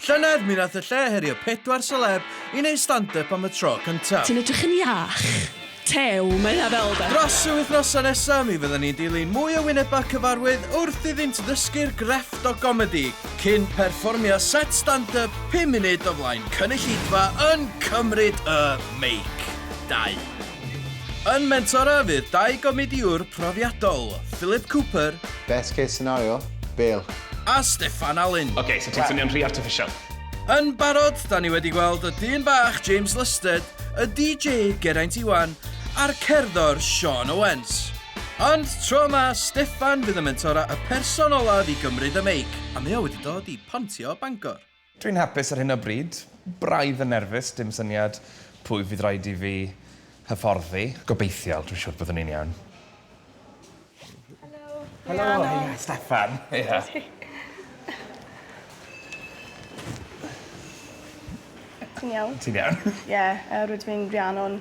Llynedd mi nath y lle herio pedwar seleb i neud stand up am y tro cyntaf. Ti'n edrych yn iach. Tew, mae hynna fel de. Dros y wythnosau nesa mi fyddan ni'n dilyn mwy o wynebau cyfarwydd wrth iddynt ddysgu'r grefft o gomedi cyn perfformio set stand up pum munud o flaen cynulleidfa yn cymryd y meic. Dau. Yn mentora fydd dau gomediwr profiadol, Philip Cooper, Best case scenario, Bale. a Steffan Alun. Ok, so ti'n swnio'n rhy artificial. Yn barod, da ni wedi gweld y dyn bach James Lusted, y DJ Geraint Iwan, a'r cerddor Sean Owens. Ond tro yma, Steffan fydd yn mentora y person olaf i gymryd y meic, a mae o wedi dod i Pontio Bangor. Dwi'n hapus ar hyn o bryd. Braidd yn nerfus, dim syniad pwy fydd rhaid i fi hyfforddi. Gobeithiol, dwi'n siwr byddwn i'n iawn. Helo. Helo, heia, Steffan. Heia. Ti'n iawn? Ti'n iawn? Ie, yy rydw i'n Rhiannon.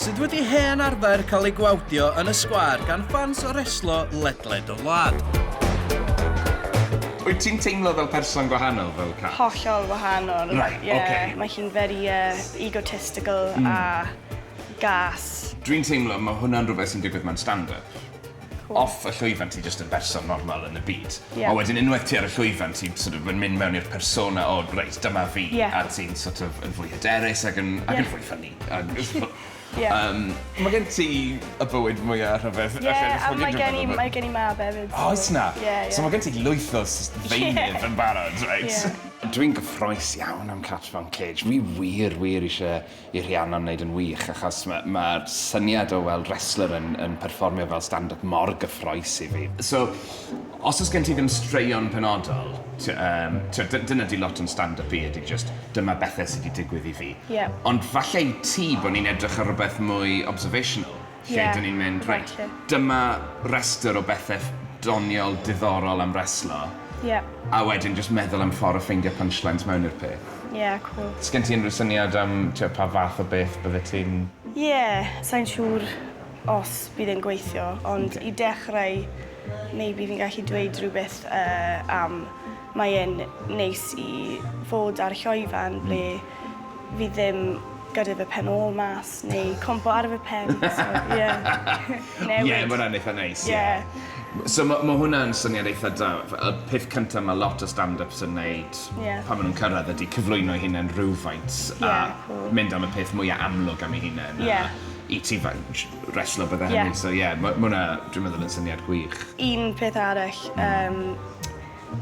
sydd wedi hen arfer cael ei gwawdio yn y sgwâr gan ffans o reslo ledled y wlad. Wyt ti'n teimlo fel person gwahanol fel Kat? Hollol wahanol. Reit, ok. Ie, mae hi'n very yy egotistical a gas. Dwi'n teimlo mae hwnna'n rhywbeth sy'n digwydd mewn stand-up. Off y llwyfan ti jyst yn berson normal yn y byd. Ie. A wedyn unwaith ti ar y llwyfan ti'n sort of yn mynd mewn i'r persona o reit dyma fi. Ie. A ti'n sort of yn fwy hyderus ag yn ag yn fwy ffyni ag yn ffo- Ie. Yym. Ma' gen ti y bywyd mwya rhyfedd Ie a mae gen i mae gen i mab efyd so... Oes 'na? Ie ie. So ma' gen ti lwyth o s- ddeunydd yn barod reit. Ie. Dwi'n gyffrous iawn am Cats Mewn Cage. Fi wir wir isie i Rhiannon wneud yn wych achos ma' ma'r syniad o weld wrestler yn yn perfformio fel stand up mor gyffrous i fi. So os o's gen ti ddim straeon penodol t- yym t'od dy- dyna 'di lot o'n stand up i ydi jyst dyma bethe sy 'di digwydd i fi. Ie. Ond falle i ti bo' ni'n edrych ar rwbeth mwy observational. lle yeah, dyn ni'n mynd, reit, dyma restr o bethau doniol diddorol am reslo. Yeah. A wedyn just meddwl am ffordd o ffeindio punchlines mewn i'r peth. Yeah, cool. Sgen ti unrhyw syniad am tio, pa fath o beth bydde ti'n... Yeah, sa'n siŵr os bydd e'n gweithio, ond okay. i dechrau, maybe fi'n gallu dweud rhywbeth uh, am mae e'n neis i fod ar llwyfan ble mm fi ddim gyda fy pen ôl mas neu compo ar fy pen so ie. Newid. Ie ma' wnna'n eitha neis ie. Ie. So ma' ma' hwnna'n syniad eitha da f- y peth cynta ma' lot o stand-yps yn neud... Ie. ...pan ma' nw'n cyrradd ydi cyflwyno'i hunan rywfaint a... Ie cŵl. ...mynd am y peth mwya amlwg am ei hunen a... Ie. ...i ti fy- j- reslo bydde hynny... Ie. ...so ie ma' ma' wnna dwi meddwl yn syniad gwych. Un peth arall yym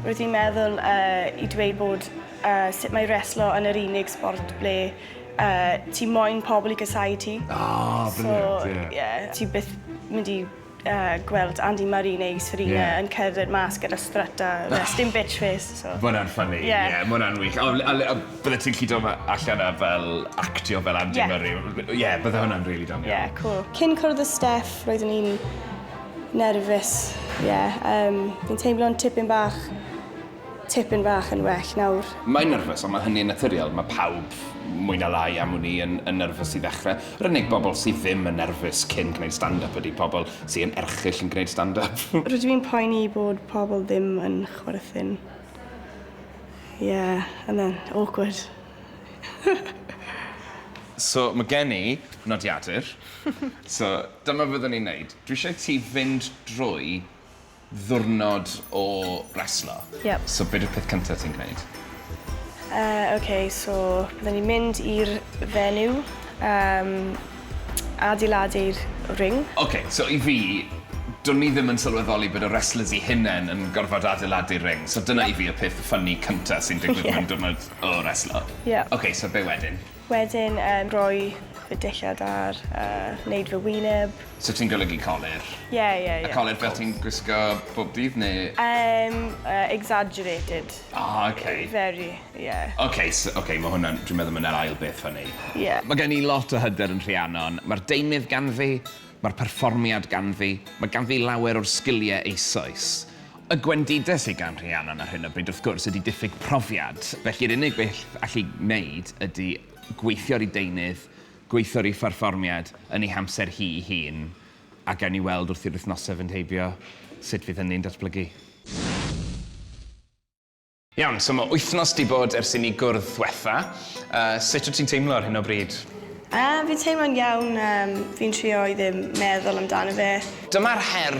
Rwyt ti'n meddwl yy i dweud bod yy sut mae reslo yn yr unig sbort ble yy ti moyn pobl i gasáu ti. Ah brilliant ie. So ie ti byth mynd i yy gweld Andy Murray neu Serena... Ie. ...yn cerdded mas gyda strut a yy sdim bitch face so. Ma' wnna'n ffyni. Ie. Ie ma' wnna'n wych on' a le- a byddet ti'n gallu do' ma- allan a fel actio fel Andy Murray? Ie. Ie bydde hwnna'n rili doniol. Ie cŵl. Cyn cwrdd â Steff roeddwn i'n Nerfus, ie. Yym, fi'n teimlo'n tipyn bach, tipyn bach yn well nawr. Mae'n nyrfys, ond mae hynny'n naturiol. Mae pawb, mwy na lai, am wn i, yn, yn nyrfys i ddechrau. Yr unig bobl sydd ddim yn nerfus cyn gwneud stand-up ydy pobl sy yn erchyll yn gwneud stand-up. Rydw i'n poeni bod pobl ddim yn chwerthin. Ie, and then, awkward. So ma' gen i nodiadur. So dyma be fyddwn i'n neud. Dwi eisiau ti fynd drwy ddiwrnod o reslo. Yep. So be di'r peth cynta ti'n gneud? Yy ok so byddwn i'n mynd i'r venue yym adeiladu'r ring. Ok so i fi dwn i ddim yn sylweddoli bod y reslors'i hunen yn gorfod adeiladu'r ring so dyna i fi y peth ffyni cynta sy'n digwydd mewn diwrnod O reslo. Ie. Oce so be' wedyn? Wedyn yym roi y dillad ar a neud fy wyneb. So ti'n golygu colur? Ie ie ie. A colur fel ti'n gwisgo bob dydd ne'? Yym yy exagerated. O oce. Very ie. Oce so oce ma' hwnna'n dwi'n meddwl ma' 'na'r ail beth funny. Ie. Ma' gen i lot o hyder yn Rhiannon. Ma'r deunydd ganddi Mae'r perfformiad ganddi, mae ganddi lawer o'r sgiliau eisoes. Y gwendides sy gan Rhiannon ar hyn o bryd, wrth gwrs, ydi diffyg profiad, felly yr unig beth all'i wneud ydi gweithio ar ei deunydd, gweithio ar ei pherfformiad yn ei hamser hi'i hun, a gawn ni weld wrth i'r wythnosau fynd heibio sut fydd hynny'n datblygu. Iawn, so mae wythnos di bod ers i ni gwrdd ddwetha. Uh, sut wyt ti'n teimlo ar hyn o bryd? Uh, fi'n teimlo'n iawn, um, fi'n trio i ddim meddwl amdano fe. Dyma'r her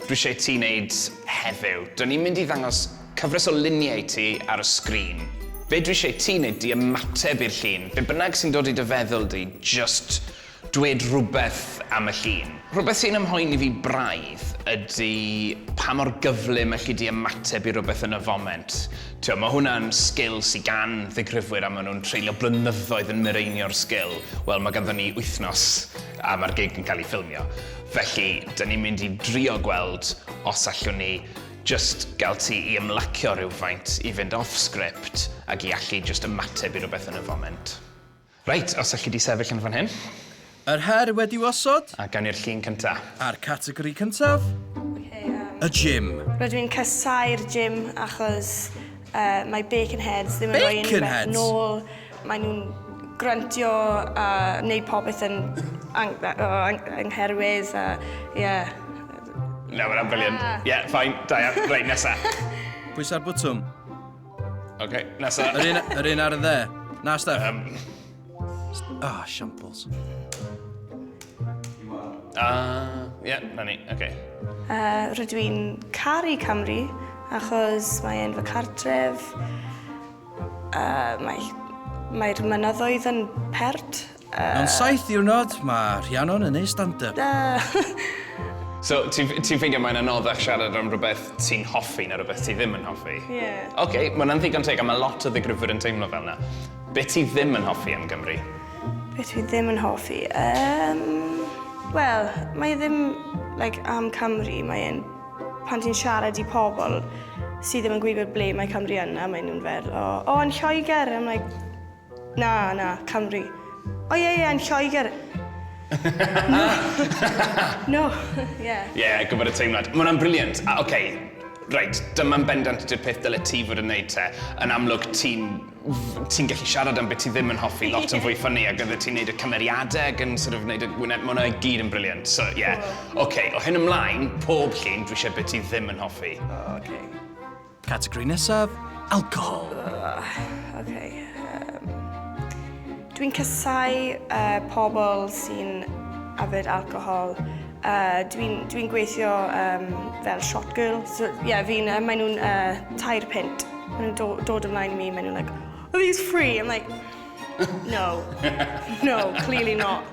dwi eisiau ti wneud heddiw. Dyn ni'n mynd i ddangos cyfres o luniau i ti ar y sgrin. Be dwi eisiau ti wneud di ymateb i'r llun, be bynnag sy'n dod i dy feddwl di, just Dweud rhywbeth am y llun. Rhywbeth sy'n ymhoeni fi braidd ydy pa mor gyflym elli di ymateb i rywbeth yn y foment. Tibod, mae hwnna'n sgil sy gan ddigrifwyr a maen nhw'n treulio blynyddoedd yn mireinio'r sgil. Wel, mae ganddon ni wythnos a mae'r gig yn cael ei ffilmio. Felly, da ni'n mynd i drio gweld os allwn ni jyst gael ti i ymlacio rhywfaint, i fynd off-script ac i allu jyst ymateb i rywbeth yn y foment. Reit, os alli di sefyll yn fan hyn. Yr her wedi'w osod. A gawn ni'r llun cynta. A'r categori cyntaf, y gym. Rydw i'n casáu'r gym achos mae bacon heads ddim yn rhoi unrhywbeth nôl, maen nhw'n grantio a neud popeth yn angherwydd a ie. Na, ma' hwnna'n brilliant. Ie, fine, da iawn. Reit, nesa. Pwysa'r botwm. OK, nesa. Yr un, yr un ar y dde. Na, Steph. Um. Ah, shambles. Ah, ie, yeah, na ni, oce. Okay. Uh, rydw i'n caru Cymru, achos mae e'n fy cartref, uh, mae'r mae mynyddoedd yn pert, Mewn saith diwrnod, mae Rhiannon yn neud stand up. So, ti'n ffeindio mae'n anoddach siarad am rhywbeth ti'n hoffi na rhywbeth ti ddim yn hoffi? Ie. Ok, mae hwnna'n ddigon teg a mae lot o ddigrifwyr yn teimlo fel yna. Be ti ddim yn hoffi am Gymru? Be ti ddim yn hoffi? Um, Wel, mae ddim like, am Cymru, mae e'n pan ti'n siarad i pobl sydd ddim yn gwybod ble mae Cymru yna, maen nhw'n fel, o, oh, yn Lloegr, I'm like, Na, na, Cymru. O ie, ie, yn Lloegr. No. No, ie. Ie, gwybod y teimlad. Mae hwnna'n brilliant. A, oce, reit, dyma'n bendant di'r peth dyle ti fod yn wneud te. Yn amlwg, ti'n ti'n gallu siarad am beth ti ddim yn hoffi lot yn fwy ffynnu ac oeddet ti'n gwneud y cymeriadau ac yn sort of wneud y wyneb, mae hwnna i gyd yn brilliant. So, ie. Oce, o hyn ymlaen, pob llun, dwi eisiau beth ti ddim yn hoffi. Oce. Categori nesaf, alcohol. Uh, ok. Um, Dwi'n casau uh, pobl sy'n yfed alcohol. Uh, Dwi'n dwi gweithio um, fel shot girl. So, yeah, fi'n, uh, maen nhw'n uh, tair pint. Maen nhw'n do, dod ymlaen i mi, maen nhw'n like, are these free? I'm like, no, no, clearly not.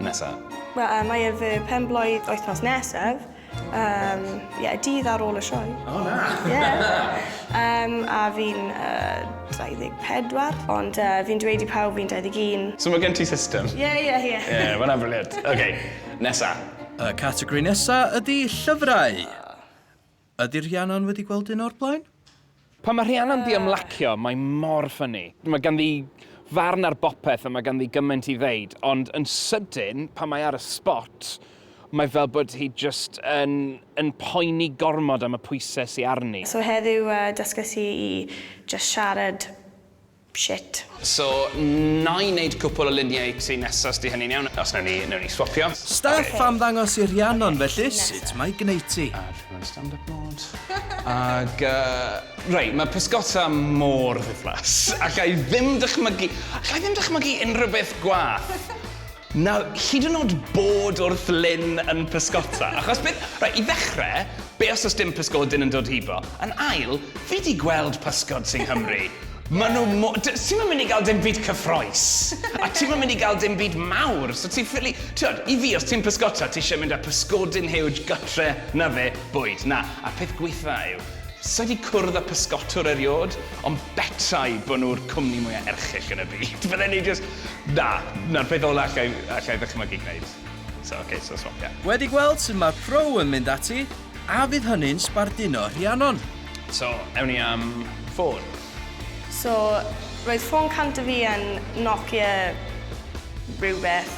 nesaf? Wel, uh, mae e fy penblwydd wythnos nesaf. Um, yeah, dydd ar ôl y sioe. O, oh, na! Yeah. um, a fi'n uh, 24, ond uh, fi'n dweud i pawb fi'n 21. So mae gen ti system? Ie, yeah, ie, yeah, ie. Yeah. Ie, yeah, mae'n briliant. OK, nesa. Y categori nesa ydy llyfrau. Ydy Rhiannon wedi gweld un o'r blaen? Pan mae Rhiannon 'di ymlacio, mae mor ffyni. Mae ganddi farn ar bopeth a mae ganddi gymaint i ddeud, ond yn sydyn, pan mae ar y sbot, mae fel bod hi jyst yn yn poeni gormod am y pwyse sy arni. So heddiw dysges i i jyst siarad Shit. So, na i neud cwpwl o luniau tŷ nesa os 'di hynny'n iawn, os newn ni, newn ni swapio. Staff am ddangos i Rhiannon felly sut mae gneiti. A dwi mewn stand up mode. Ag yy, reit, ma' pysgota mor ddiflas, allai ddim dychmygu, allai ddim dychmygu unrhyw beth gwath. Nawr, hyd yn o'd bod wrth Lyn yn pysgota, achos beth... Reit, i ddechre, be' os o's dim pysgodyn yn dod hibo? Yn ail, fi 'di gweld pysgod sy Nghymru, ma' nhw mo- d- ti'm yn mynd i ga'l dim byd cyffrous, a ti'm yn mynd i ga'l dim byd mawr, so ti ffili... T'wod, i fi, os ti'n pysgota, ti isie mynd â pysgodyn huge gytre, 'na fe, bwyd, na. A'r peth gwaetha' yw, sai 'di cwrdd â pysgotwr eriôd, Ond betai bod nhw'r cwmni mwyaf erchyll yn y byd, fydden ni jyst... Na, 'na'r peth ola' alla' i alla' i ddychmygu gneud. So ok, so swopia. Wedi gweld sut mae'r Pro yn mynd ati, a fydd hynny'n sbarduno Rhiannon? So, ewn ni am ffôn. So, roedd ffôn cant o fi yn Nokia rhywbeth.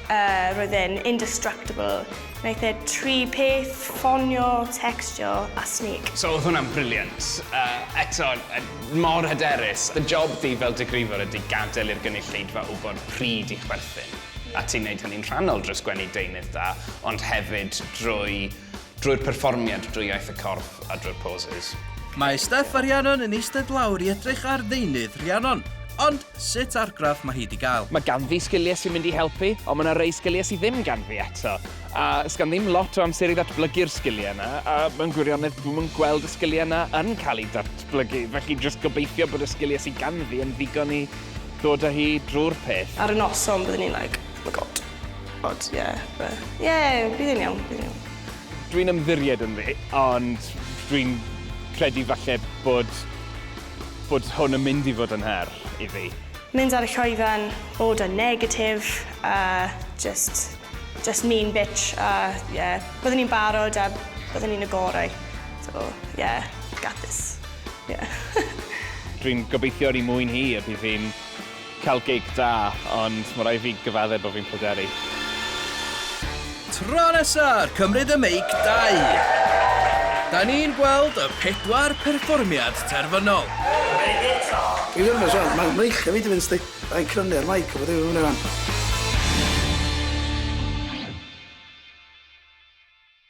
Yy, roedd e'n indestructible. Wnaeth e tri peth, ffonio, tecstio a sneak. So oedd hwnna'n brilliant. Yy, eto, mor hyderus. Dy job di fel digrifwr ydi gadael i'r gynulleidfa wybod pryd i chwerthin. A ti'n neud hynny'n rhannol drwy sgwennu deunydd da, ond hefyd drwy Drwy'r perfformiad, drwy iaith y corff a drwy'r poses. Mae Steff a Rhiannon yn eistedd lawr i edrych ar ddeunydd Rhiannon. Ond sut argraff mae hi 'di gael? Mae ganddi sgiliau sy'n mynd i helpu, ond mae 'na rei sgiliau sy ddim ganddi eto. A 's gan ddim lot o amser i ddatblygu'r sgiliau 'na, a mewn gwirionedd dwi'm yn gweld y sgiliau 'na yn cael eu datblygu, felly jyst gobeithio bod y sgiliau sy ganddi yn ddigon i ddod â hi drwy'r peth. Ar y noson byddwn i'n like, oh my god. But yeah, but yeah, bydd yn iawn, bydd yn iawn. Dwi'n ymddiried ynddi, ond dwi'n credu falle bod, bod hwn yn mynd i fod yn her i fi. Mynd ar y llwyfan, bod yn negatif, a just, just mean bitch, a yeah, byddwn i'n barod a byddwn i'n y gorau. So, yeah, got this. Yeah. Dwi'n gobeithio ar ei mwyn hi a bydd hi'n Cael gig da, ond mae rhaid i fi gyfaddef bod fi'n pryderu. Tro nesa, cymryd y meic dau. Da ni'n gweld y pedwar perfformiad terfynol. Dwi'n nyrfys wan, mae mreichia fi wedi mynd sti. Da ni'n crynu ar mike a bod dim yn mynd i wan.